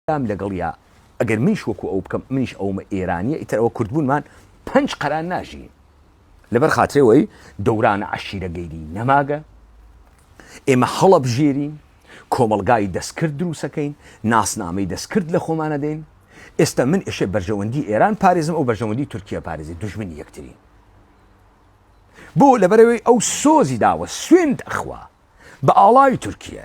دام لەگەڵیا ئەگەر منیش وەکو ئەو بکەم منیش ئەومە ئێرانیە ئیتر ئەوە کوردبوونمان پەنج قەران ناژین لەبەر خاترەوەی دەورانە عشیرە گەیری نەماگە ئێمە هەڵە بژێرین کۆمەلگای دەستکرد دروسەکەین ناسنامەی دەستکرد لە خۆمانە دەین ئێستا من ئێشێ بەرژەوەندی ئێران پارێزم ئەو بەرژەوەندی تورکیا پارێزی دژمنی یەکتری بۆ لەبەرەوەی ئەو سۆزی داوە سوێند ئەخوا بە ئاڵای تورکیە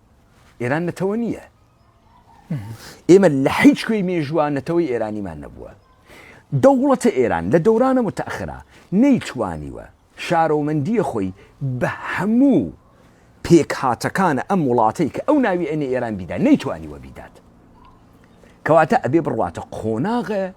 ئێران نەتەوە نییە ئێمە لە هیچ کوێی مێژووە نەتەوەی ئێرانیمان نەبووە دەوڵەتە ئێران لە دەورانە متەخرا نەیتوانیوە شارۆمەندیە خۆی بە هەموو پێک هاتەکانە ئەم وڵاتەی کە ئەو ناوی ئەنێ ئێران بیدا نەیتوانیوە بیدات کەواتە ئەبێ بڕواتە قۆناغە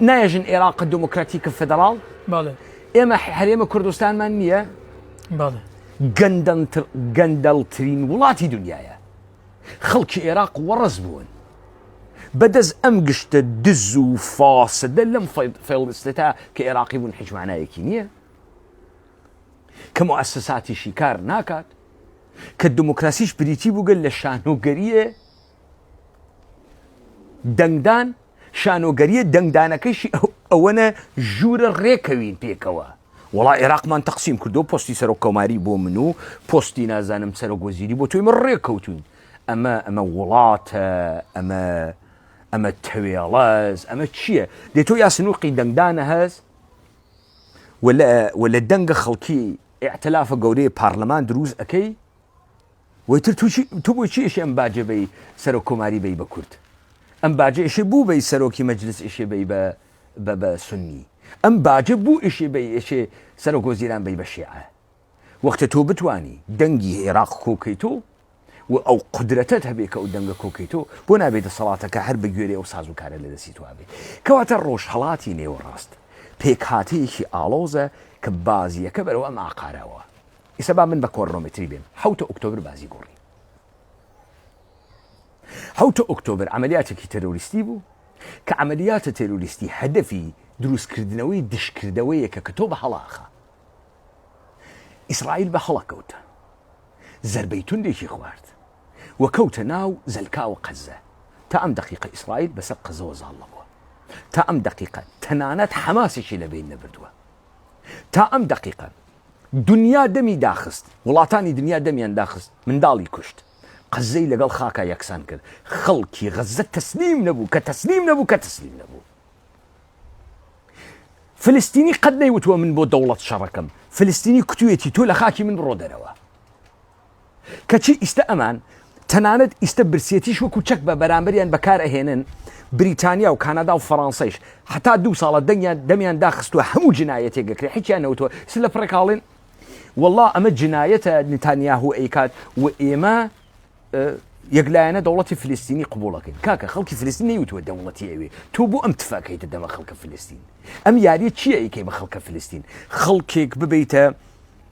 نایژن عێراق دموکراتیکە فدرال ئێمە هەرێمە کوردستانمان نییە گەندەڵترین وڵاتی دنیاە خەڵکی عێراق وەڕز بوون بەدەست ئەم گشتە دز و فاسدە لەم فێڵستێتا کە عێراقی بوون حجمانایەکی نییە کەم و ئەسەساتیشی کار ناکات کە دموکراسیش بریتی بووگەل لە شانۆگەریە دەنگدان شانۆگەریە دەنگدانەکەیشی ئەوەنە ژوورە ڕێکەوین پێکەوە وڵا عێراقمان تەقسیم کردو پستی سەرۆک کۆماری بۆ من و پستی نازانم سەرۆک وەزیری بۆ توی من ڕێککەوتون ئەمە ئەمە وڵاتە ئەمە ئەمە تەوێڵەز ئەمە چییە دێ تۆ یاسنوقی دەنگدانە هەز وە لە دەنگە خەڵکی ئەعتلافە گەورەی پارلەمان دروست ئەەکەی وەیتر تو بۆ چی ئشێ ئەم باجە بەی سەرۆک کۆماری بەی بە کورد ئەم باجە ئشێ بوو بەی سەرۆکی مەجلس ئشێ بەی بە بە بە سنی ئەم باجە بوو ئشێ بەی ئشێ سەرۆک وەزیران بەی بە شێعە وەختە تۆ بتانی دەنگی هێراق کۆکەیتۆ و ئەو قدرەتت هەبێ کە ئەو دەنگە کۆکەیتۆ بۆ نابێت دەسەڵاتەکە هەر بە گوێرەی ئەو سازوکارە لە دەستی توابێ کەواتە ڕۆژهەڵاتی نێوەڕاست پێکهاتەیەکی ئاڵۆزە کە بازیەکە بەرەوە ئەم ئاقارەوە ئیسە با من بە کۆرنۆمتری بێم حەوتە ئوکتۆبر بازی گۆڕی حەوتە ئوکتۆبر عملیاتێکی تەرۆریستی بوو کە عملیاتە تەرۆریستی هەدەفی دروستکردنەوەی دشکردەوەیەکە کە تۆ بە هەڵاخە ئیسرائیل بە هەڵە کەوتە زربەی توندێکی خوارد و کەوتە ناو زەلکاوە قەزە تا ئەم دقیقە ئیسرائیل بەسەر قەزەوە زاڵە بووە تا ئەم دقیقە تەنانەت حەماسێکی لە بین نەبردووە تا ئەم دقیقە دنیا دەمی داخست، وڵاتانی دنیا دەمیان داخست، منداڵی کوشت، قەززەی لەگەڵ خاکا یەکسان کرد، خەڵکی غەززە تەسلیم نەبوو، کە تەسلیم نەبوو، کە تەسلیم نەبوو. فلستینی قەت نەیوتووە من بۆ دەوڵەت شەڕەکەم، فلستینی کوتویەتی تۆ لە خاکی من بڕۆ دەرەوە. کەچی ئیستە ئەمان تەنانەت ئیستە برسیەتیش وەکو چەک بە بەرامبەریان بەکار ئەهێنن بریتانیا و کانادا و فەرانسەیش حتا دوو ساڵە دەنگیان دەمیان داخستووە هەموو جنایەتێک گەکرێ حیچیان نەوتوە س لە پڕێکاڵێن والله ئەمە جنایەتە نتانیاهو ئەیکات و ئێمە یەکلایەنە دەوڵەتی فلستینی قوبوڵەکەین کاکە خەڵکی فلستین نەیوتوە دەوڵەتی ئەوێ تۆ بۆ ئەم تفاکەیتە دەمە خەڵکە فلستین ئەم یاریە چیەکەی بە خەڵکە فلستین خەڵکێک ببیتە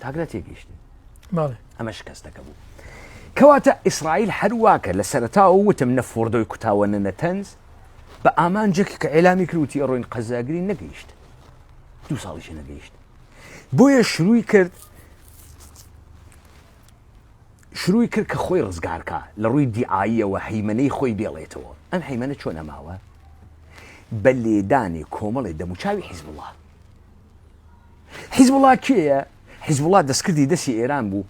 تاک لە تێگەیشتن ئەمە شکستەکە بوو کەواتە ئیسرائیل هەرواکە لە سەرتاوە وتم نە فۆردۆی کوتاوە نە نەتەنز بە ئامانجێکی کە ئێلامی کروتی ئەڕۆین قەزاگری نەگەیشت دو ساڵیش نەگەیشت بۆیە شروعی کرد شروعی کرد کە خۆی ڕزگارکە لە ڕووی دیعاییەوە هەیمنەی خۆی بێڵێتەوە ئەم هەیمنە چۆن ئەماوە بە لێدانی کۆمەڵی دەموچاوی حیزبڵە حیزبوڵا کێیە؟ حیزبوڵا دەستکردی دەستی ئێران بوو.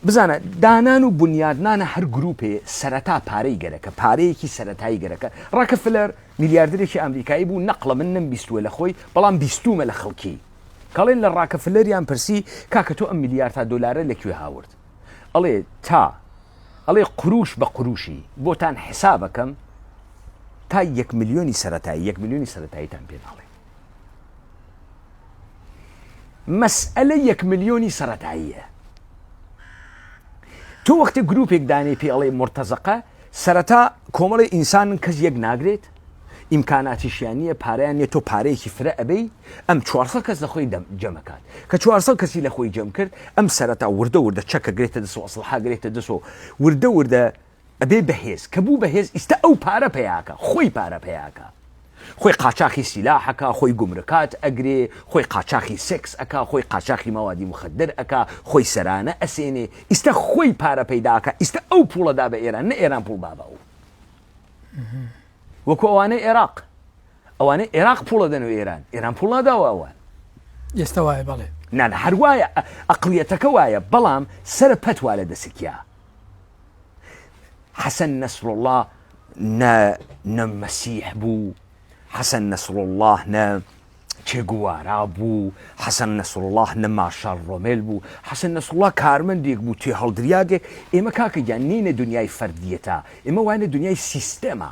بزانە دانان و بنیادنانە هەر گروپێ سەرەتا پارەی گەرەکە پارەیەکی سەتایی گەرەکە ڕاکە فلەر میلیاردێکی ئەمریکایی بوو نەقڵە من نم بیستوە لە خۆی بەڵام بیستومە لە خەڵکی کاڵێن لە ڕاکە فلەریان پرسی کاکە تۆ ئەم میلیارد تا دلارە لەکوێ هاورد ئەڵێ تا ئەڵێ قروش بە قروشی بۆتان حسابەکەم تا یەک ملیۆنی سەتایی یەک ملیۆنی سەتاییتان پێناڵێ مەسئەلە یەک ملیۆنی سەرەتاییە تۆ وەختی گروپێک دانێ پێ ئەڵێ مرتەزەقە سەرەتا کۆمەڵی ئینسانن کەس یەک ناگرێت ئیمکاناتیشیان نییە پاریان نیە تۆ پارەیەکی فرە ئەبی ئەم 400 کەس لە خۆی جەمەکات کە 400 کەسی لە خۆی جەم کرد ئەم سەرەتا وردە وردە چەکە گرێتە دەسەوە ئەسڵحاگرێتە دەسەوە وردە وردە ئەبێ بەهێز کە بوو بەهێز ئیستا ئەو پارە پەیاکە خۆی پارە پەیاکە خۆی قاچاخی سیلاحەکە خۆی گومرکات ئەگرێ خۆی قاچاخی سێکس ئەکا خۆی قاچاخی مەوادی مخدر ئەکا خۆی سەرانە ئەسێنێ ئیستا خۆی پارە پەیداکە ئیستا ئەو پوڵە دا بە ئێران نە ئێران پوڵ دا بە ئەو وەکو ئەوانەی ئێراق ئەوانەی ئێراق پوڵە دەن و ئێران ئێران پوڵ ناداوە ئەوان ئێستا وایە بەڵێ نان هەروایە ئەقلیەتەکە وایە بەڵام سەر پەتوا لە دەسکیا حەسەن نەسروڵڵا نە نە مەسیح بوو حەسەن نەسروڵڵا نە چێگوارا بوو حەسەن نەسرڵاه نە مارشال ڕۆمێل بوو حەسەن نەسرڵا کارمەندێک بوو تێ هەڵدریادێک ئێمە کاکەگیان نینە دنیای فەردیەتە ئێمە وانە دنیای سیستەما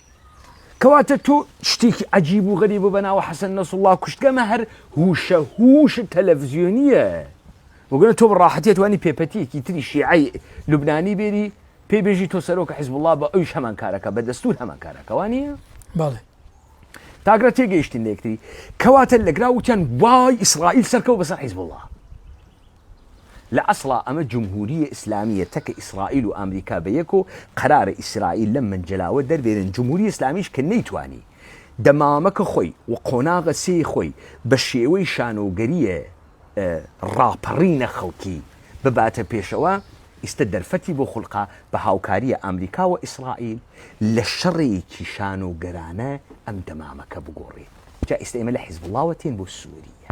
کەواتە تۆ شتێکی عجیب و غەریب و بەناوە حەسەن نەسڵڵا کوشتگەمە هەر هوشە هوش تەلەڤزیۆنیە وگەنە تۆ بڕاحەتێت وانی پێپەتیەکی تری شیعی لوبنانی بێری پێی بێژی تۆ سەرۆکە حزب الله بە ئەوش هەمان کارەکە بە دەستور هەمان کارەکەوانە بەڵێ تاگرە تێگەیشتن لەکتری کەواتە لەگرا وتیان وای ئیسرائیل سەرکەوت بەسەر حیزب الله لە ئەسڵا ئەمە جمهوریە ئیسلامیە تەکە ئیسرائیل و ئامریکا بە یەک و قەرارە ئیسرائیل لەم مەنجەلاوە دەربێنن جمهوری ئیسلامیش کە نەیتوانی دەمامەکە خۆی و قۆناغە سێی خۆی بە شێوەی شانۆگەریە ڕاپەڕینە خەڵکی بباتە پێشەوە ئیستە دەرفەتی بۆ خولقا بە هاوکاریە ئامریکا و ئیسرائیل لە شەڕێکی شانۆگەرانە ئەم دەمامەکە بگۆڕێت جا ئیستە ئێمە لە حیزبوڵاوە تێن بۆ سوریە.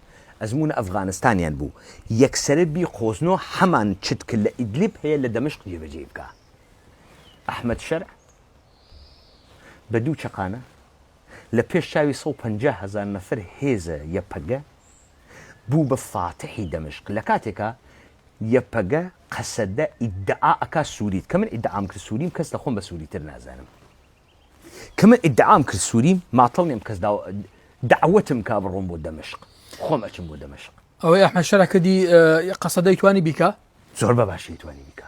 ئەزموونە ئەفغانستانیان بوو یەکسەرە بی قۆزنۆ هەمان چت ک لە ئیدلیب هەیە لە دەمشق جێبەجێی بکا ئەحمەد شەرع بە دوو چەقانە لە پێش چاوی سەد و پەنجا هەزار نەفەر هێزە یەپەگە بوو بە فاتحی دەمشق لە کاتێکا یەپەگە قەسەدە ئیدعا ئەکا سووریت کە من ئیدعام کرد سووریم کەس لە خۆم بە سووریتر نازانم. کە من ئیدعام کرد سووریم ماتڵ نیم کەس داوا دعوتم کا بڕۆم بۆ دەمشق خۆم ئەچم بۆ دەمشق ئەوەی ئەحمەد شەرع کردی اه، قەسەدەی توانی بیکا زۆر بە باشی توانی بیکا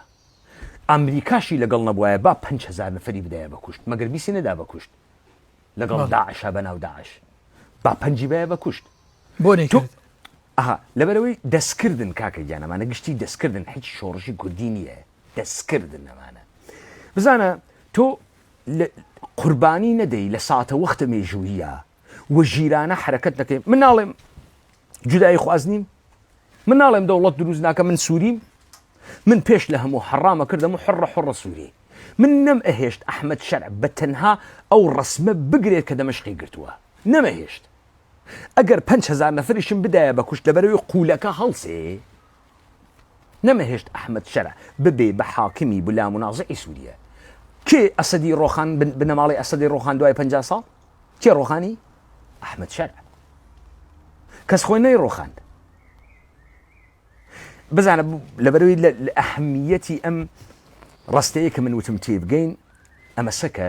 ئەمریکاشی لەگەڵ نەبوایە با 5هزار نەفری بدایە بە کوشت مەگەر بیسی نەدا بە کوشت لەگەڵ بەڵێ. داعشا بە ناو داعش با پەنجی بایە بە کوشت بۆ تۆ نەیکرد ئەها لەبەرەوەی دەستکردن کاکە گیان ئەمانە گشتی دەستکردن هیچ شۆڕشی کوردی نییە دەستکردن ئەمانە بزانە تۆ قوربانی نەدەی لە ساتە وەختە مێژوویە و ژیرانە حرەکەت نەکەی من ناڵێم جودایی خواز نیم من ناڵێم دەوڵەت دروست ناکە من سووریم من پێش لە هەموو حەڕامە کردم و حڕە حڕە سووری من نەم ئەهێشت ئەحمد شەرع بە تەنها ئەو ڕسمە بگرێت کە دەمەشقی گرتووە نەمەهێشت ئەگەر 5هزار نەفرشم بدایە بە کوشت لەبەرەوەی قوولەکە هەڵسێ نەمەهێشت ئەحمەد شەرع ببێ بە حاکمی بلا منازعی سووریە. کێ ئەسەدی ڕۆخان بنەماڵەی ئەسەدی ڕۆخان دوای پەنجا ساڵ؟ کێ ڕۆخانی؟ ئەحمەد شەرع. کەس خۆی نەی ڕۆخاند. بزانە لەبەروی لە ئەهمیەتی ئەم ڕاستەیە کە من وتم تێبگەین ئەمەسەکە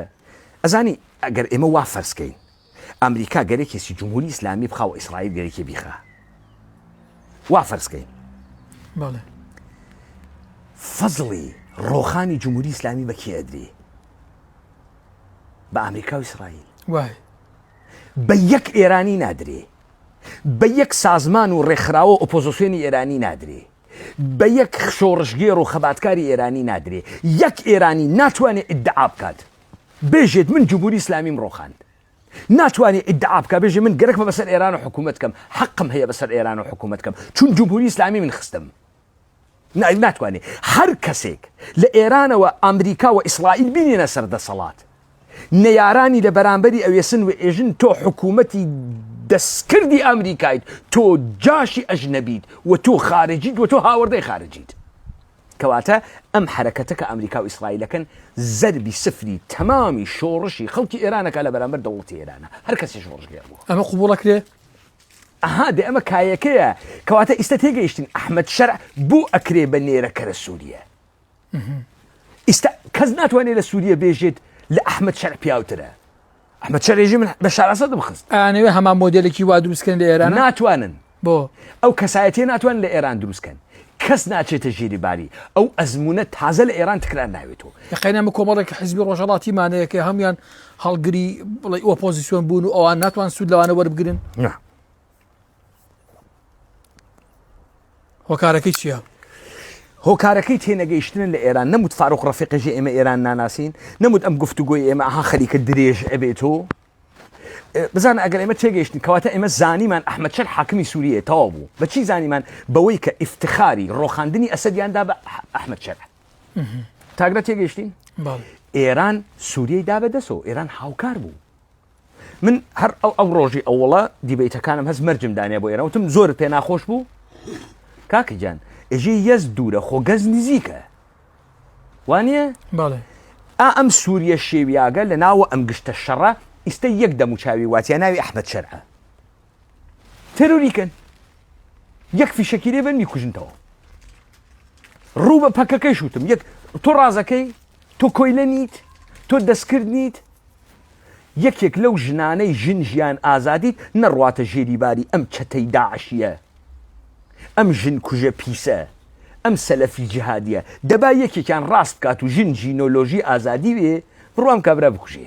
ئەزانی ئەگەر ئێمە وا فەرزکەین ئەمریکا گەرەکێسی جمهوری ئیسلامی بخا و ئیسرائیل گەرەکی بیخا وا فەرزکەین بەڵێ فەزڵی ڕۆخانی جمهوری ئیسلامی بە کێدری بە ئەمریکا و ئیسرائیل وای بە یەک ئێرانی نادرێ بە یەک سازمان و ڕێکخراوە ئۆپۆزیسیۆنی ئێرانی نادرێ بە یەک شۆڕشگێر و خەباتکاری ئێرانی نادرێ یەک ئێرانی ناتوانێت ئیدعا بکات بێژێت من جمهوری ئیسلامیم ڕۆخاند ناتوانێ ئیدعا بکا بێژێ من گەرەکمە بەسەر ئێران و حکوومەت کەم حەقم هەیە بەسەر ئێران و حکوومەت کەم چون جمهوری ئیسلامی من خستم ناتوانێ هەر کەسێک لە ئێرانەوە ئەمریکا و ئیسرائیل بینێنە سەر دەسەڵات نەیارانی لە بەرامبەری ئەوێسن و ئێژن تۆ حکوومەتی دەستکردی ئەمریکایت تۆ جاشی ئەژنەبیت و تۆ خارجیت و تۆ هاوردەی خارجیت کەواتە ئەم حەرەکەتە کە ئەمریکا و ئیسرائیلەکەن زەربی سفری تەمامی شۆڕشی خەڵکی ئێرانەکە لە بەرامبەر دەوڵەتی ئێرانە هەر کەسێ شۆڕشگێڕ بووە. ئەمە قبوڵ ئەکرێ؟ ئەها دێ ئەمە کایەکەیە کەواتە ئیستە تێگەیشتین ئەحمەد شەرع بۆ ئەکرێ بە نێرە کەرە سووریە ئیستا کەس ناتوانێت لە سووریە بێژێت لە ئەحمەد شەرع پیاوترە ئەمە چەرێژی من بە شارەسە دەبخست ئەیانەوێ هەمان مۆدلێکی وا دروستکەن لە ئێران ناتوانن بۆ ئەو کەسایەتی ناتوان لە ئێران دروستکەن کەس ناچێتە ژێری باری ئەو ئەزمونە تازە لە ئێران تکرار ناوێتەوە یقینەمە کۆمەڵێک لە حزبی ڕۆژەڵاتیمانەیەکە هەموان هەڵگری بڵی ئۆپۆزیسیۆن بوون و ئەوان ناتوان سوود لەوانە وەربگرن هۆکارەکەی چییە؟ هۆکارەکەی تێنەگەیشتن لە ئێران نەموت فاروق ڕفقژی ئێمە ئێران ناناسین نەموت ئەم گفتوگوۆی ئێمە ئەها خەریکە درێژ ئەبێت و بزان ئەگەر ئێمە تێگەیشتن کەواتە ئێمە زانیمان ئەحمد شەر حاکمی سووریە تەوا بوو بەچی زانیمان بەوەی کە ئفتخاری ڕۆخاندنی ئەسەدیاندا بە ئەحمد شەر تاگرە تێگەشتین ئێران سووریەی دا بەدەسەوە ئێران هاوکار بوو من هەر ئەو ئەو ڕۆژی ئەوڵە دیبیتەکانم هەست مەرجم دانێ بۆ ئێرەوتم زۆر پێ ناخۆش بوو کاکەجان ئێژی یەز دوورە خۆ گەز نزیکە وانە ئا ئەم سووریە شێویاگە لە ناوە ئەم گشتە شەڕە ئیستا یەک دەموچاوی واتیە ناوی ئەحمد شەرە تێرۆری کەن یەک فیشەکی لێبن میکوژنتەوە ڕوو بە پەکەکەی شوتم یەک تۆ ڕازەکەی تۆ کۆیلە نیت تۆ دەستکرد نیت یەکێک لەو ژنانەی ژن ژیان ئازادیت نەڕواتە ژێری باری ئەم چەتەی داعشیە ئەم ژن کوژە پیسە ئەم سەلەفی جهادیە دەبا یەکێکیان ڕاست بکات و ژن ژینۆلۆژی ئازادی وێ بڕوام کابرا بکوژێ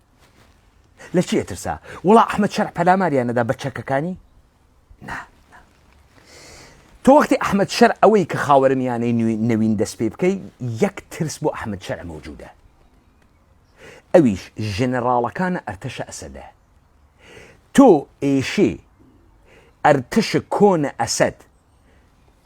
لە چی ئەترسا وڵا ئەحمد شەرع پەلاماریان نەدا بە چەکەکانی نا تۆ وەختی ئەحمد شەر ئەوەی کە خاوەرمیانەی نوین دەست پێ بکەی یەک ترس بۆ ئەحمد شەر مەوجودە ئەویش ژەنەراڵەکانە ئەرتەشە ئەسەدە تۆ ئێشێ ئەرتەشە کۆنە ئەسەد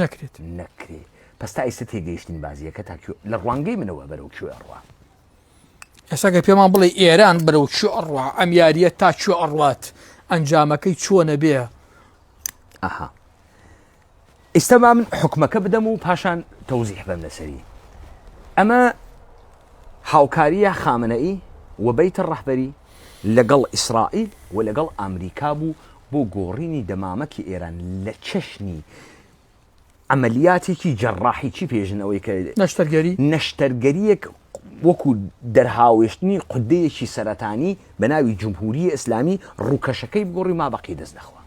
نەکرێت نەکرێ پس تا ئیستا تێگەیشتین بازیەکە تا لە ڕوانگەی منەوە بەرەو کوێ ڕوا ئێساگە پێمان بڵێ ئێران بەرەو چ ئەڕوا ئەم یاریە تا چ ئەڕات ئەنجامەکەی چۆنە بێ ئەها ئیستا با من حکومەکە بدەم و پاشان تەوزیح بەم لەسەری ئەمە هاوکاریە خامنەئی و بیتە ڕەحبەری لەگەڵ ئیسرائیل و لەگەڵ ئەمریکا بوو بۆ گۆڕینی دەمامکی ئێران لە چەشنی عەمەلیاتێکی جەڕاحیی پێشن ئەوەی کە نەشتەرگەری نەشتەرگەرییەک وەکوو دەرهاوێشتنی قودەیەکی سەرەتانی بە ناوی جمهوریە ئیسلامی ڕووکەشەکەی بگۆڕی و مابەقی دەست نەخوا.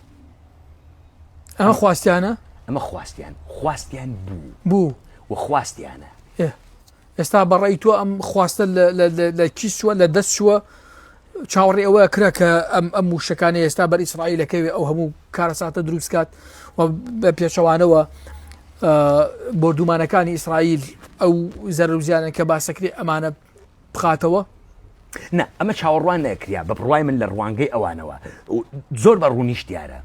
ئەمە خواستیانە؟ ئەمە خواستیان خواستیان بوو بوو و خواستیانە. ئێ. ئێستا بە ڕێی تۆ ئەم خواستە لە کی چووە لە دەست چووە چاوەڕێ ئەوە کرا کە ئەم ئەم وشەکانی ئێستا بەر ئیسرائیل لەکەوێ ئەو هەموو کارەساتە دروستکات و بە پێچەوانەوە بردومانەکانی ئیسرائیل ئەو زەرزیانە کە باسەکری ئەمانە بخاتەوە نە ئەمە چاوەڕوان نەکریا بە بڕای من لە ڕوانگەی ئەوانەوە زۆر بە ڕوونیش دیارە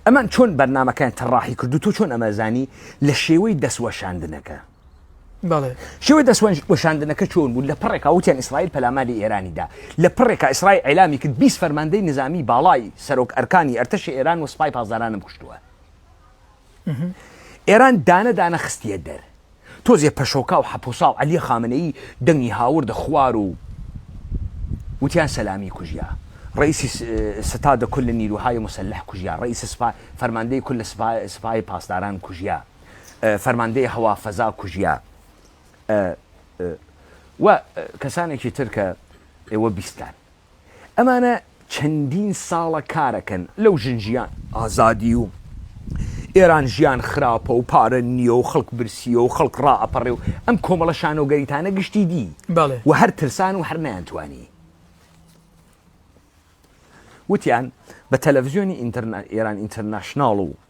ئەمان چۆن بەرنمەکان تەڕاحی کردو تۆ چۆن ئەمەزانی لە شێوەی دەستوەشاندنەکە بەڵێ شێوەی دەستوەنج وەشاندنەکە چۆن بوو لە پڕێکا وتیان ئیسرائیل پەلاماری ئێرانی دا لە پڕێکا ئیسرائیل ئیلامی کرد بیست فەرماندەی نزامی باڵای سەرۆک ئەرکانی ئەرتەشی ئێران و سپای پاسدارانم کوشتووە ئێران دانە دانە خستیە دەر تۆزێ پەشۆکا و حەپوسا و عەلیە خامنەیی دەنگی هاوردە خوار و وتیان سەلامی کوژیا ڕئیسی ستاد کل نیروهای مسلح کوژیا ڕئیس سپا فەرماندەی کل سپای پاسداران کوژیا فەرماندەی هەوا فەزا کوژیا ئە ئە و کەسانێکی تر کە ئێوە بیستتان ئەمانە چەندین ساڵە کارەکەن لەو ژن ژیان ئازادی و ئێران ژیان خراپە و پارە نییە و خەڵک برسییە و خەڵک ڕائەپەڕێ و ئەم کۆمەڵە شانۆگەریتانە گشتی دی و هەر ترسان و هەر نەیانتوانی وتیان بە تەلەفزیۆنی ئینتەرنا ئێران ئینتەرناشناڵ و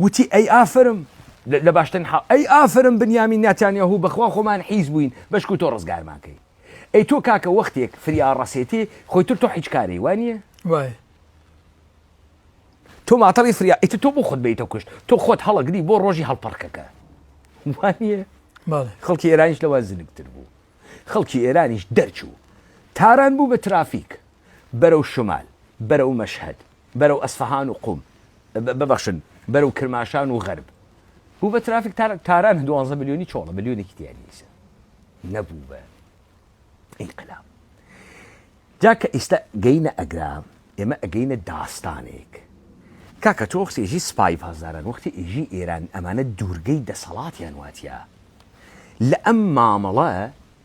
وتی ئەی ئافرم لە باشترین حاڵ ئەی ئافرم بنیامین ناتانیاهو بەخوا خۆمان حیز بووین بەشکو تۆ ڕزگارمان کەی ئەی تۆ کاکە وەختێک فریا ڕەسێتی خۆی تر تۆ حیچ کاری وانە وای تۆ ماتەڵی فریا ئیت تۆ بۆ خۆت بیتە کوشت تۆ خۆت هەڵەگری بۆ ڕۆژی هەڵپەڕکەکە وانە خەڵکی ئێرانیش لەوە زنکتر بوو خەڵکی ئێرانیش دەرچوو تاران بوو بە ترافیک بەرەو شمال بەرەو مەشهد بەرەو ئەسفەهان و قوم ببەخشن بەرەو کرماشان و غەرب بوو بە ترافیک تاران دوانزە ملیۆنی چۆڵە ملیۆنێکی دیاری نیسە نەبوو بە ئینقلاب جا کە ئیستا گەینە ئەگرا ئێمە ئەگەینە داستانێک کاکە تۆ وەختی ئێژی سپای پاسداران وەختی ئێژی ئێران ئەمانە دوورگەی دەسەڵاتیان واتە لە ئەم مامەڵە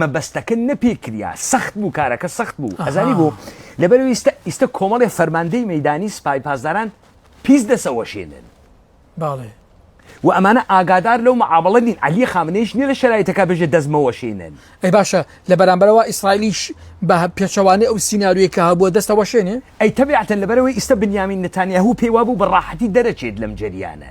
مەبەستەکە نەپی کریا سەخت بوو کارەکە سەخت بوو ئەزانی بوو لەبەر ئیستا ئیستا کۆمەڵی فەرماندەی مەدانی سپای پاسداران پیس دەسەوەشێنن باڵێ و ئەمانە ئاگادار لەو معاملە نین علی خامنەیش نیە لە شرایتەکە بژێ دەستمەوەشێنن ئەی باشە لە بەرامبەرەوە ئیسرائیلیش بە پێچەوانەی ئەو سینناروی کە هەبووە دەستەوەشێنێ ئەی تەبیعەتەن لەبەرەوەی ئیستا بنیامین نتانیاهو پێی وابوو بە ڕاحەتی دەرەچێت لەم جەریانە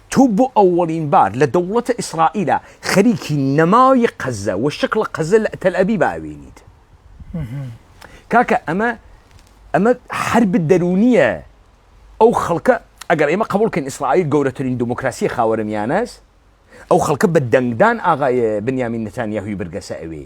تۆ بۆ ئەوەڵین بار لە دەوڵەتە ئیسرائیلە خەریکی نەماوی قەزە وە شکڵە قەزە لە تەلئەبیبا ئەوێنیت کاکە ئەمە ئەمە حرب دەرونیە ئەو خەڵکە ئەگەر ئێمە قبولکەین ئیسرائیل گەورەترین دموکراسی خاوەرمیانەس ئەو خەڵکە بە دەنگدان ئاغای بنیامین نتانیاهوی برگەسە ئەوێ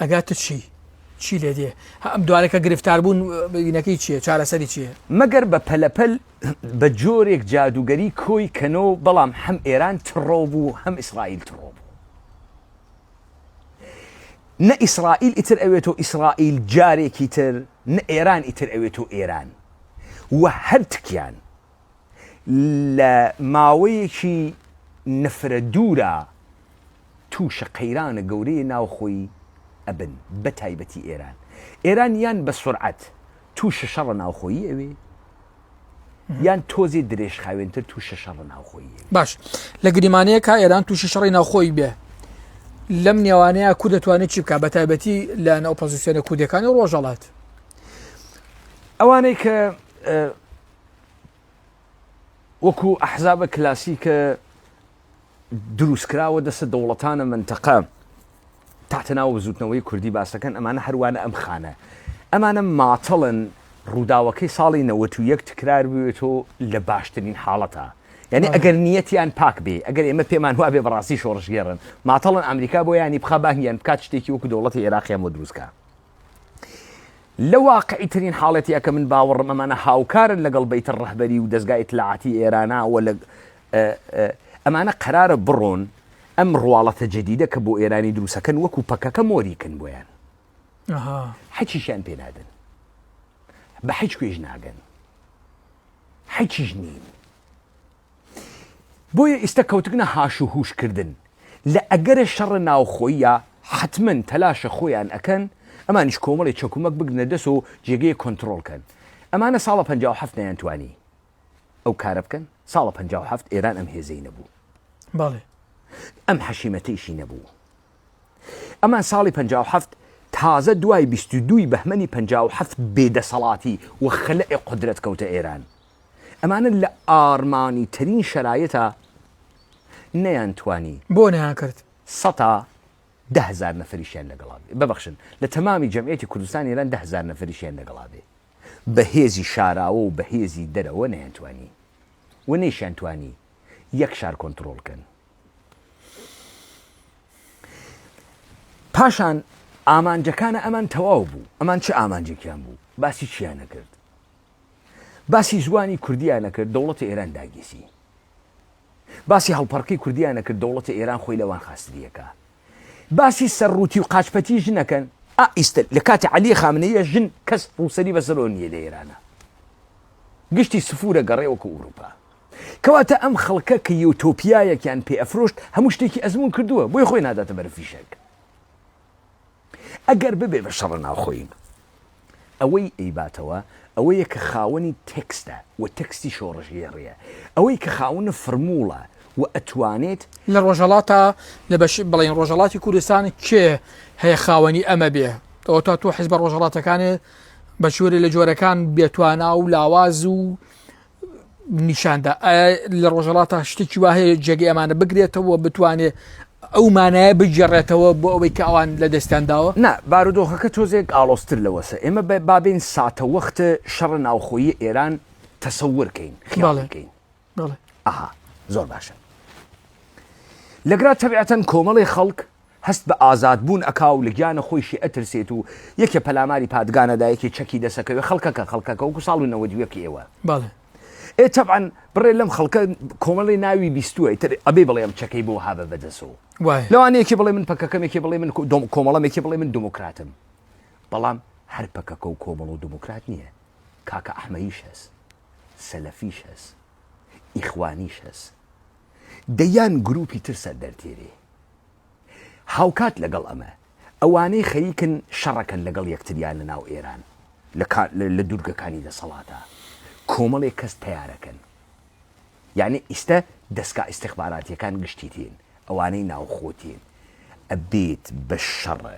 ئەگا تر چی چی لێ دێ هە ئەم دوانە کە گرفتار بوون بینەکەی چیە چارەسەری چیە؟ مەگەر بە پەلە پەل بە جۆرێک جادووگەری کۆی کەنەوە بەڵام هەم ئێران تڕۆ بوو هەم ئیسڕائیل تڕۆ بوو نە ئیسڕائیل ئیتر ئەوێتۆ ئیسڕائیل جارێکی تر نە ئێران ئیتر ئەوێتۆ ئێران وە هەر تکیان لە ماوەیەکی نەفرە دوورا تووشە قەیرانە گەورەی ناوخۆی ئەبن بە تایبەتی ئێران ئێران یان بە سرعەت تووشە شەڕە ناوخۆیی ئەوێ یان تۆزی درێژ خاوێنتر تووشە شەڕ ناوخۆی باش لە گریمانەیە کا ئێران تووشی شەڕی ناوخۆی بێ لەم نێوانەیە کو دەتوانێت چی بکە بە تایبەتی لە ناوپۆزیسیۆنە کودەکانی ڕۆژەڵات ئەوانەی کە وەکو ئەحزابە کلاسیکە دروستکراوە دەسە دەوڵەتانە منتەقە تاتەناوە بزوتنەوەی کوردی باسەکەن ئەمانە هەروانە ئەم خانە ئەمانە ماتەڵن ڕووداوەکەی ساڵی نەوەت و یەک تکرار بوێتەوە لە باشترین حاڵەتە یعنی ئەگەر نیەتیان پاک بێ ئەگەر ئێمە پێمان وابێ بەڕاستی شۆڕژگێڕن ماتەڵن ئەمریکا بۆ ینی بخە باهیان بکات شتێکی وەکو دەوڵەتی عێراقیان بۆ دروستکە لە واقعی ترین حاڵەتی ئەکە من باوەڕم ئەمانە هاوکارن لەگەڵ بیتە ڕەهبەری و دەستگای اطلاعاتی ئێرانە و لە ئەمانە قەرارە بڕۆن ئەم ڕواڵەتە جدیدە کە بۆ ئێرانی دروستەکەن وەکو پەکەکە مۆریکن بۆیان حەچیشیان پێنادن بە حیچ کوێژ ناگەن حەچیش نین بۆیە ئیستە کەوتگنە هاش و هوش کردن لە ئەگەرە شەڕە ناوخۆییە حەتمەن تەلاشە خۆیان ئەکەن ئەمانیش کۆمەڵی چەکومەک بگرنە دەس و جێگەی کۆنترۆڵ کەن ئەمانە ساڵە پەنجا و حەفت نەیان توانی ئەو کارە بکەن ساڵە پەنجا و حەفت ئێران ئەم هێزەی نەبوو باڵێ ئەم حەشیمەتەیشی نەبوو ئەمان ساڵی پەنجا و حەفت تازە دوای بیست و دووی بەهمەنی پەنجا و حەفت بێدەسەڵاتی و خەلئ قدرەت کەوتە ئێران ئەمانە لە ئاڕمانی ترین شەرایتا نەیان توانی. بۆ نەیان کرد؟ سەتا دە هەزار نەفەریشیان لەگەڵا بێ، ببەخشن لە تەمامی جەمعیەتی کوردستان ئێران دە هەزار نەفەریشیان لەگەڵا بێ بە هێزی شاراوە و بە هێزی دەرەوە نەیان توانی و نەیشیان توانی یەک شار کۆنتڕۆڵ کەن. پاشان ئامانجەکانە ئەمان تەواو بوو، ئەمان چ ئامانجێکیان بوو؟ باسی چیان نەکرد؟ باسی زوانی کوردیان نەکرد دەوڵەتی ئێران داگیسی باسی هەڵپەڕکی کوردیان نەکرد دەوڵەتی ئێران خۆی لەوان خاستریەکە باسی سەر ڕووتی و قاچپەتی ژنەکەن ئائیستر لە کاتی علی خامنەیە ژن کەس ڕووسری بەسەرۆ نیە لە ئێرانە گشتی سفورە گەڕێ وەکو ئوروپا کەواتە ئەم خەڵکە کە یوتۆپیایەکیان پێ ئەفرۆشت هەموو شتێکی ئەزمون کردووە بۆی خۆی ناداتە بەرفیشەک ئەگەر ببێ بە شەڕە ناوخۆیی. ئەوەی ئەیباتەوە ئەوەیە کە خاوەنی تێکستە و تێکستی شۆڕشگێڕییە. ئەوەی کە خاونە فرمووڵە و ئەتوانێت. لە ڕۆژهەڵاتە لە بەشی بڵێین ڕۆژهەڵاتی کوردستان کێ هەیە خاوەنی ئەمە بێ؟ ئەوە تا تۆ حیزبە ڕۆژهەڵاتەکانێ بە چۆرێ لە جۆرەکان بێتوانا و لاواز و نیشاندا لە ڕۆژەڵاتە شتێکی وا هەیە جێگە ئەمانە بگرێتەوە بتوانێ ئەو مانایە بگێڕێتەوە بۆ ئەوەی کە ئەوان لە دەستیان داوە نا بارودۆخەکە تۆزێک ئاڵۆزتر لەوەسە ئێمە بە بابین ساتە وەخت شەڕە ناوخۆیی ئێران تەسەورکەین خیاڵەکەین ئەها زۆر باشە لەگرا تەبعەتەن کۆمەڵی خەڵک هەست بە ئازاد بوون ئەکا و لە گیانە خۆیشی ئەترسێت و یەکێ پەلاماری پادگان ئەدا یەکێ چەکی دەست ئەکەوێ خەڵکەکە خەڵکەکە وەکو ساڵ و نەوەد و یەک ئێوە بەڵێ. ئێ تەبعەن بڕێ لەم خەڵکە کۆمەڵێ ناوی بیستووە ئیتر ئەبێ بڵێ ئەم چەکەی بۆ هابە بەدەسەوە وایە. لەوانە یەکێ بڵێ من پەکەکەم یەکێ بڵێ من کۆمەڵەم یەکێ بڵێ من دموکراتم بەڵام هەر پەکەکە و کۆمەڵ و دموکرات نییە کاکە ئەحمەیش هەس سەلەفیش هەس ئیخوانیش هەس دەیان گرووپی تر سەر دەرتێرێ. هاوکات لەگەڵ ئەمە، ئەوانەی خەریکن شەڕەکەن لەگەڵ یەکتریا لە ناو ئێران لە دوورگەکانی دەسەڵاتە کۆمەڵێک کەس تەیارەکەن. یەعنی ئیستە دەسگا ئیستخباراتیەکان گشتی تین، ئەوانەی ناوخۆ تین. ئەبێت بە شەڕە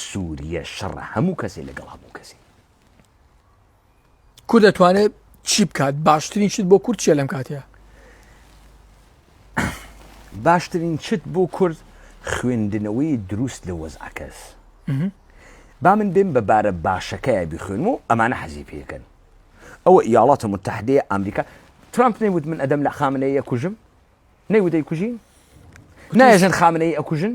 سوریە شەڕە هەموو کەسێ لەگەڵ هەموو کەسێ. کورد دەتوانێت چی بکات باشترین شت بۆ کورد چیە لەم کاتەیە باشترین چت بۆ کورد خوێندنەوەی دروست لە وەزعکەس با من بێم بە بارە باشەکەی بخوێن و ئەمانە حەزی پێکەن ئەوە یاڵاتە متحدەیە ئەمریکا ترامپ نەیوت من ئەدەم لە خامنەیە کوژم نەیوتەی کوژین نایژن خامنەی ئەکوژن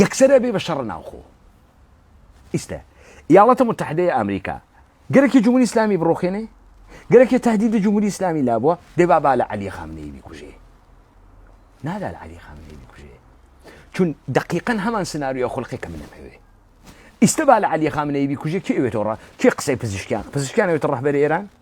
یەکسەر ئەبێ بە شەڕە ناوخۆ ئیستە یاڵەتە متحدەیە ئەمریکا گەرەکی جمهوری ئسلامی بڕۆخێنێ گەرەکێ تهدید جمهوری ئسلامی لابووە دێبا با لە علی خامنەی بیکوژێ نادا لە علی خامنەی بکوژێ چون دقیقا هەمان سناریۆ خلقی کە منم هەوێ ئیستا با لە علی خامنەی بیکوژێ کێوێتەوە کێ قسەی پزیشکیان پزیشکیانەوێتە ڕحبەر ئێران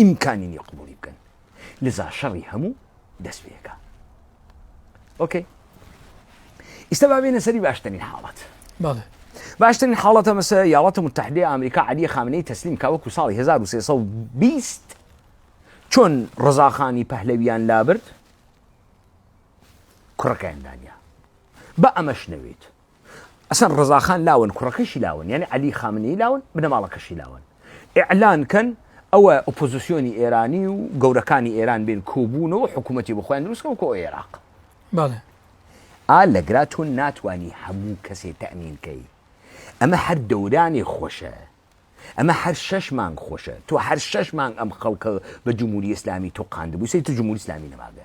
ئیمکانی نیە قبوڵی بکەن لزا شەڕی هەموو دەست پێکا ئۆکەی ئیستا با بێنە سەری باشترین حاڵەت بەڵێ باشترین حاڵەتە مەسە یاڵەتە متحدی ئەمریکا علی خامنەی تەسلیم کا وەکو ساڵی 1320 چۆن ڕزاخانی پەهلەویان لابرد کوڕەکەیان دانیا بە ئەمەش نەوێت ئەسەن ڕزاخان لاون کوڕەکەشی لاون یعنی علی خامنەی لاون بنەماڵەکەشی لاون ئعلان کەن ئەوە ئۆپۆزیسیۆنی ئێرانی و گەورەکانی ئێران بێن کۆبوونەوە حکوومەتی بخۆیان دروستکەم کۆ عێراق ئا لەگرا تۆ ناتانی هەموو کەسێ تەمینکەی ئەمە هەر دەورانی خۆشە ئەمە هەر شەش مانگ خۆشە تۆ هەر شەش مانگ ئەم خەڵکە بە جمهوری ئسلامی تۆ قاندبووسی تر جمهوری ئسلامی نەماگە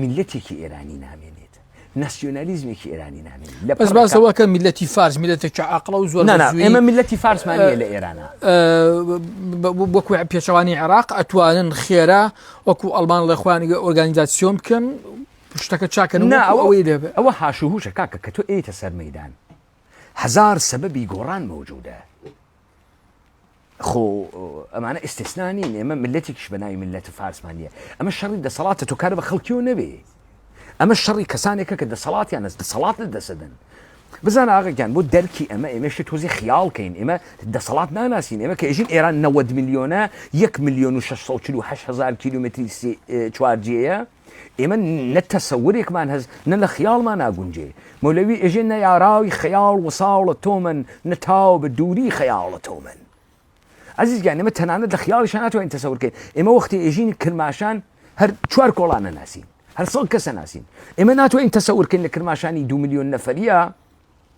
میللەتێکی ئێرانی نامێنێت ناسیۆنالیزمێکی ئێرانی نامێنێت لە بەس باسەوەکە میلەتی فارس میلەتێکی عقلە و زۆر ئێمە میلەتی فارسمانە لە ئێرانە وەکو پێچەوانی عێراق ئەتوانن خێرا وەکو ئەلمان ڵێخوانیگە ئۆرگانیزاسیۆن بکەن شتەکە چاکەن ئەوەی لێ ئەوە هاشوهوشە کاکە کە تۆ ئێتە سەر مەدان هزار سەبەبی گۆڕان مەوجودە خۆ ئەمانە ئیسسنا نین ئێمە ملەتێکیش بە ناوی ملەت و فارسمان نیە ئەمە شەڕی دەسەڵاتە تۆ کار بە خەڵکیەوە نەبێ ئەمە شەڕی کەسانێکە کە دەسەڵاتیان ئەس دەسەڵات لە دەسەدەن بزان ئاغگەیان بۆ دەرکی ئەمە ئێمەشی تۆزی خیاڵکەین ئێمە دەسەڵات ناناسین ئێمە کە ئێژین ئێران 90 میلیۆنە 1 میلیۆن و 648 هزار کیلومتری چوارجەیە ئێمە نە تەسەورێکمان هەس نە لە خیاڵمان ناگونجێ مەولەوی ئێژێ نە یاراوی خەیاڵ وساڵە تۆمەن نە تاو بە دووری خەیاڵە تۆمەن عزیز گیان ئێمە تەنانەت لە خیاڵیشان ناتوانین تەسەورکەین ئێمە وەختی ئێژین کرماشان هەر چوار کۆڵانە ناسین هەر سەڵ کەسە ناسین ئێمە ناتوانین تەسەورکەین لە کرماشانی دو میلیۆن نەفەریە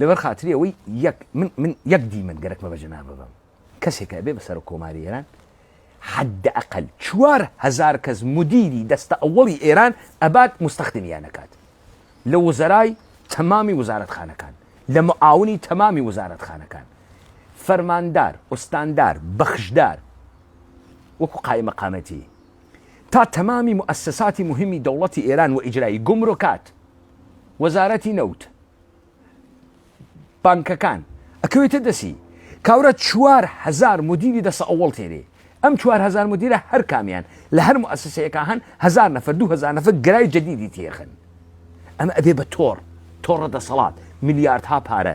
لەبەر خاتری ئەوەی یەک من من یەک دیمەن گەرەکمە بە جەنابە بم کەسێکە ئەبێ بە سەرۆک کۆماری ئێران حد ئەقل چوار هزار کەس مدیری دەستە ئەوەڵی ئێران ئەبات مستەخدمیانەکات لە وزەرای تەمامی وزارەتخانەکان لە معاونی تەمامی وزارەتخانەکان فەرماندار ئوستاندار بەخشدار وەکو قای مەقامەتی تا تەمامی مؤسساتی مهمی دەوڵەتی ئێران و ئیجرایی گمرکات وەزارەتی نەوت بانکەکان ئەکەوێتە دەسی کاورە چوار هزار مدیری دەسە ئەوەڵ تێرێ ئەم چوار هزار مدیرە هەر کامیان لە هەر موسسەیەەکە هەن هزار نەفر دو هزار نەفر گرای جدیدی تێخن ئەمە ئەبێ بە تۆڕ تۆڕە دەسەڵات ملیارد ها پارە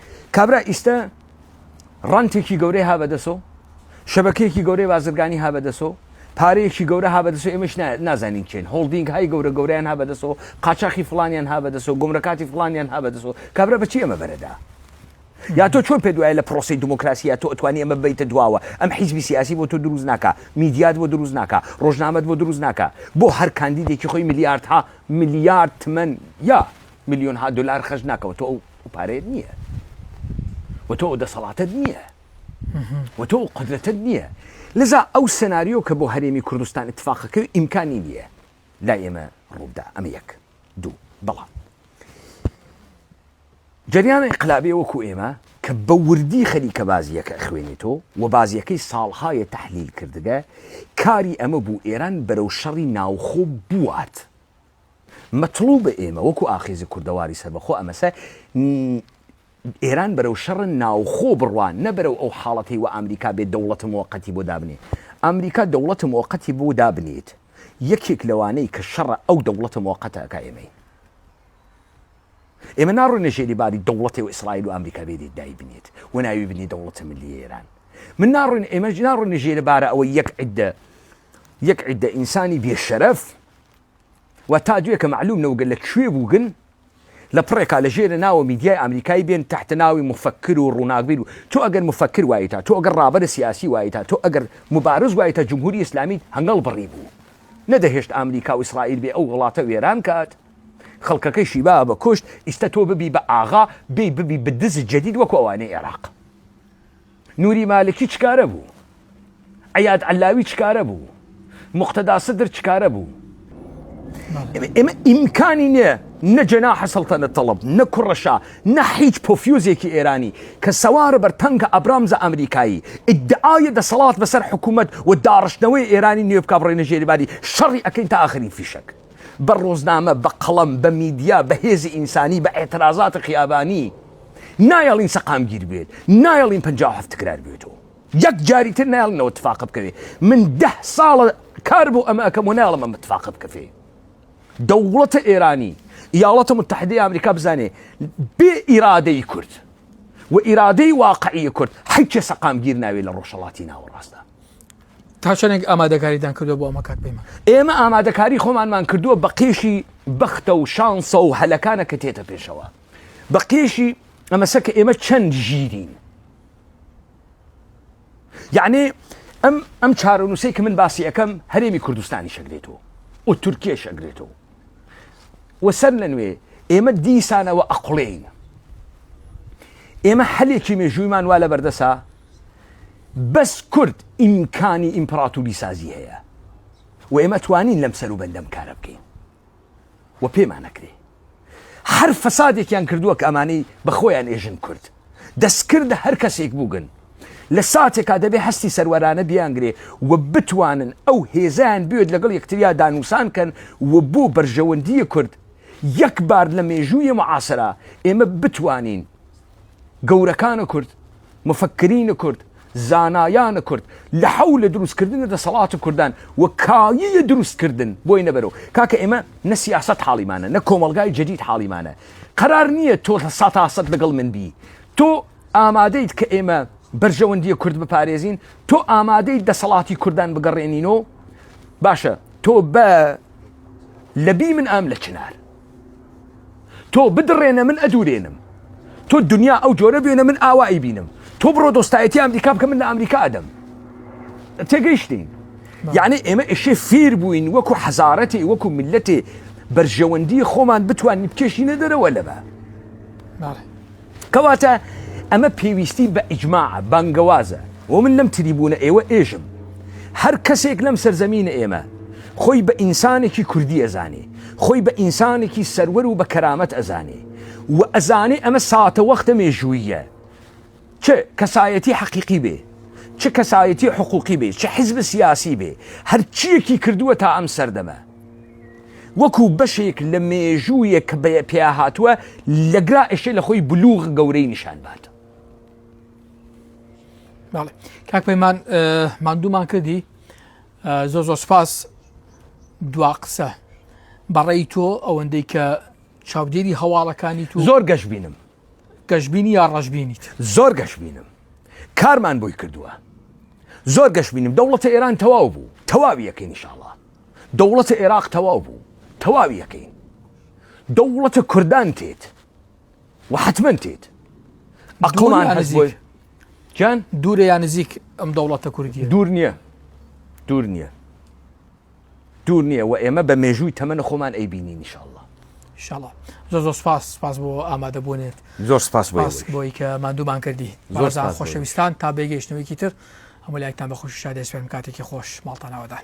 کابرا ئیستە ڕەنتێکی گەورەی ها بەدەسۆ شەبەکەیەکی گەورەی بازرگانی ها بەدەسۆ پارەیەکی گەورە ها بەدەسۆ ئێمەش نازانین چێن هۆڵدینگ های گەورە گەوریان ها بەدەسۆ قاچاخی فلانیان ها بەدەسۆ گمرەکاتی فلانیان ها بەدەسۆ کابرا بەچی ئەمە بەرەدا یا تۆ چۆن پێ دوایە لە پرۆسی دموکراسیە تۆ ئەتوانی ئەمە بیتە دواوە ئەم حیزبی سیاسی بۆ تۆ دروست ناکە میدیات بۆ دروست ناکە ڕۆژنامەت بۆ دروست ناکە بۆ هەر کاندیدێکی خۆی میلیارد ها میلیارد تمەن یا ملیۆنها دۆلار خەرج ناکەوە تۆ ئەو پارەیەت نییە و تۆ دەسەڵاتت نییە و تۆ قدرەتت نییە لەزا ئەو سناریۆ کە بۆ هەرێمی کوردستان اتفاقەکە و ئیمکانی نییە لا ئێمە ڕوودا ئەمە یەک دوو بەڵام جریانە انقلابێ وەکو ئێمە کە بە وردی خەریکە بازیەکە خوێنێتۆ و بازیەکەی ساڵهایە تحلیل کردگە کاری ئەمە بوو ئێران بەرەو شەڕی ناوخۆ بوات مەتڵوبە ئێمە وەکو ئاخیزی کوردەواری سەربەخۆ ئەمەسە ئێران بەرەو شەڕ ناوخۆ بڕوان نە بەرەو ئەو حاڵەتی و ئامریکا بێت دەوڵەتە مۆقەتی بۆ دابنێ ئامریکا دەوڵەتە مۆقەتی بۆ دابنێت یەکێک لەوانەی کە شەڕە ئەو دەوڵەتە مۆقەتە ئەکا ئێمەی ئێمە ناڕۆینە ژێری باری دەوڵەتی و ئیسرائیل و ئەمریکا بێدی دای بنێت و ناوی بنی دەوڵەتە ملی ئێران من ناڕۆین ئێمەش ناڕۆینە ژێرە بارە ئەوە یەک عدە یەک عدە ئینسانی بێ شەرەف و تا دوێ کە مەعلوم نەوگە لە کوێ بووگن لە پڕێکا لە ژێرە ناوە میدیای ئامریکای بێن تحت ناوی مفکر و ڕووناکبیر و تۆ ئەگەر مفکر وایتا تۆ ئەگەر ڕابەرە سیاسی وایتا تۆ ئەگەر مبارز وایتا جمهوری ئیسلامیت هەنگەڵ بڕی بوو نەدەهێشت ئامریکا و ئیسرائیل بێ ئەو وڵاتە وێران کات خەڵکەکەی شیبا بە کوشت ئیستە تۆ ببی بە ئاغا بێ ببی بدز جدید وەکو ئەوانەی عێراق. نوری مالکی چ کارە بوو؟ عیاد عەللاوی چ کارە بوو؟ موقتەدا سدر چ کارە بوو؟ ئێمە ئیمکانی نییە نە جەناحە سەڵتەنە تەڵب نە کوڕەشا نە هیچ پۆفیۆزێکی ئێرانی کە سەوارە بەر تەنگە ئەبرامزە ئەمریکایی ئیدعاە دەسەڵات بەسەر حکوومەت و داڕشتنەوەی ئێرانی نوێ بک بڕێنە ژێریباری شەڕی ئەەکەین تا ئاخرین فیشک بە ڕۆزنامە بە قەڵەم بە میدیا بە هێزی ئینسانی بە ئاعترازات خیابانی نایەڵین سەقامگیر بێت، نایەڵین پەنجا و حەفت تکرار بێتەوە. یەک جاری تر نایەڵن ئەوە تفاقە بکەوێ. من دە ساڵە کار بۆ ئەمە ئەکەم و نایەڵم ئەمە تفاقە بکەفێ. دەوڵەتە ئێرانی، ئیاڵەتە متحدەی ئامریکا بزانێ بێ ئیرادەی کورد و ئیرادەی واقعی کورد حیکێ سەقامگیر ناوێ لە ڕۆژەڵاتی ناوەڕاستدا. تا چەندێک ئامادەکاریدان کردو بۆ ئەمە کاک پەیمان ئێمە ئامادەکاری خۆمانمان کردووە بە قێشی بەختە و شانسە و هەلەکانە کە تێتە پێشەوە بە قێشی ئەمەسە کە ئێمە چەند ژیرین یعنی ئەم ئەم چارەنووسی کە من باسی ئەەکەم هەرێمی کوردستانی شەگرێتەوە و تورکیە شەگرێتەوە و سەر لە نوێ ئێمە دیسانەوە ئەقلین ئێمە حەلێکی مێژوویمان وا لە بەردەسا بەس کورد ئیمکانی ئیمپراتوری سازی هەیە و ئێمە توانین لەم سەر و بەندەم کارە بکەین وە پێمان ئەکرێ هەر فەسادێکیان کردووە کە ئەمانەی بەخۆیان ئێژن کورد دەستکردە هەر کەسێک بووگن لە ساتێکا دەبێ هەستی سەروەرانە بیانگرێ و بتوانن ئەو هێزیان بێت لەگەڵ یەکتریا دانووسان کەن و بۆ بەرژەوەندیە کورد یەک بار لە مێژوویە معاسرا ئێمە بتوانین گەورەکانە کورد مفکرینە کورد زانایانە کورد لە حەو لە دروستکردن دەسەڵات کوردان و کاییە دروستکردن بۆی نەبەرەوە کاکە ئێمە نە سیاست حاڵیمانە نە کۆمەلگای جدید حاڵیمانە قرار نییە تۆ لە سا تاسەد لەگەڵ من بی تۆ ئامادەیت کە ئێمە بەرژەوەندیە کورد بپارێزین تۆ ئامادەی دەسەڵاتی کوردان بگەڕێنینەوە باشە تۆ بە لەبی من ئەم لە چنار تۆ بدڕێنە من ئەدورێنم تۆ دنیا ئەو جۆرە بێنە من ئاوایی بینم تۆ بڕۆ دۆستایەتی ئەمریکا بکە من لە ئەمریکا ئەدەم تێگەیشتین یعنی ئێمە ئێشێ فیر بووین وەکو حەزارەتی وەکو ملەتێ بەرژەوەندی خۆمان بتوانین بکێشینە دەرەوە لەمە کەواتە ئەمە پێویستی بە ئیجماعە، بانگەوازە، و من لەم تریبوونە ئێوە ئێژم، هەر کەسێک لەم سەرزەمینە ئێمە خۆی بە ئینسانێکی کوردی ئەزانێ، خۆی بە ئینسانێکی سەروەر و بە کەرامەت ئەزانێ و ئەزانێ ئەمە ساتەوەختە مێژووییە، چ کەسایەتی حەقیقی بێ، چ کەسایەتی حقوقی بێ، چ حزب سیاسی بێ، هەرچییەکی کردووە تا ئەم سەردەمە. وەکو بەشێک لە مێژوویەک کە بە پێیا هاتووە لە گرا ئێشێ لە خۆی بلوغ گەورەی نیشان بات کاک پەیمان مادوومان کردی زۆ زۆ سپاس دوا قسە بەڕێی تۆ ئەوەندەی کە چاودێری هەواڵەکانی تو زۆر گەش بینم گەشببینی یا ڕژبینیت زۆر گەش بینم کارمان بۆی کردووە زۆر گەش بینم دەوڵەتە ئێران تەواو بوو تەواویەکەی نیشاڵە دەوڵەتە ئێراق تەواو بوو تەواوی ئەکەین دەوڵەتە کوردان تێت و حتممە تێت ئەقڵمان هەزیۆی جان دوورە یا نزیک ئەم دەوڵەتە کوردی دوور نییە دوور نییە دوور نییە و ئێمە بە مێژووی تەمەە خۆمان ئەی بینی نیشاءله شڵە زۆر زۆر سپاس سپاس بۆ ئامادە بوونێت زۆر سپاس بۆی کە مادوومان کردی زۆر خۆشەویستان تا بێگەیشتنەوەیکی تر هەموو لایکتان بە خۆشی شادێسپێن کاتێکی خۆش ماڵتانەوەدان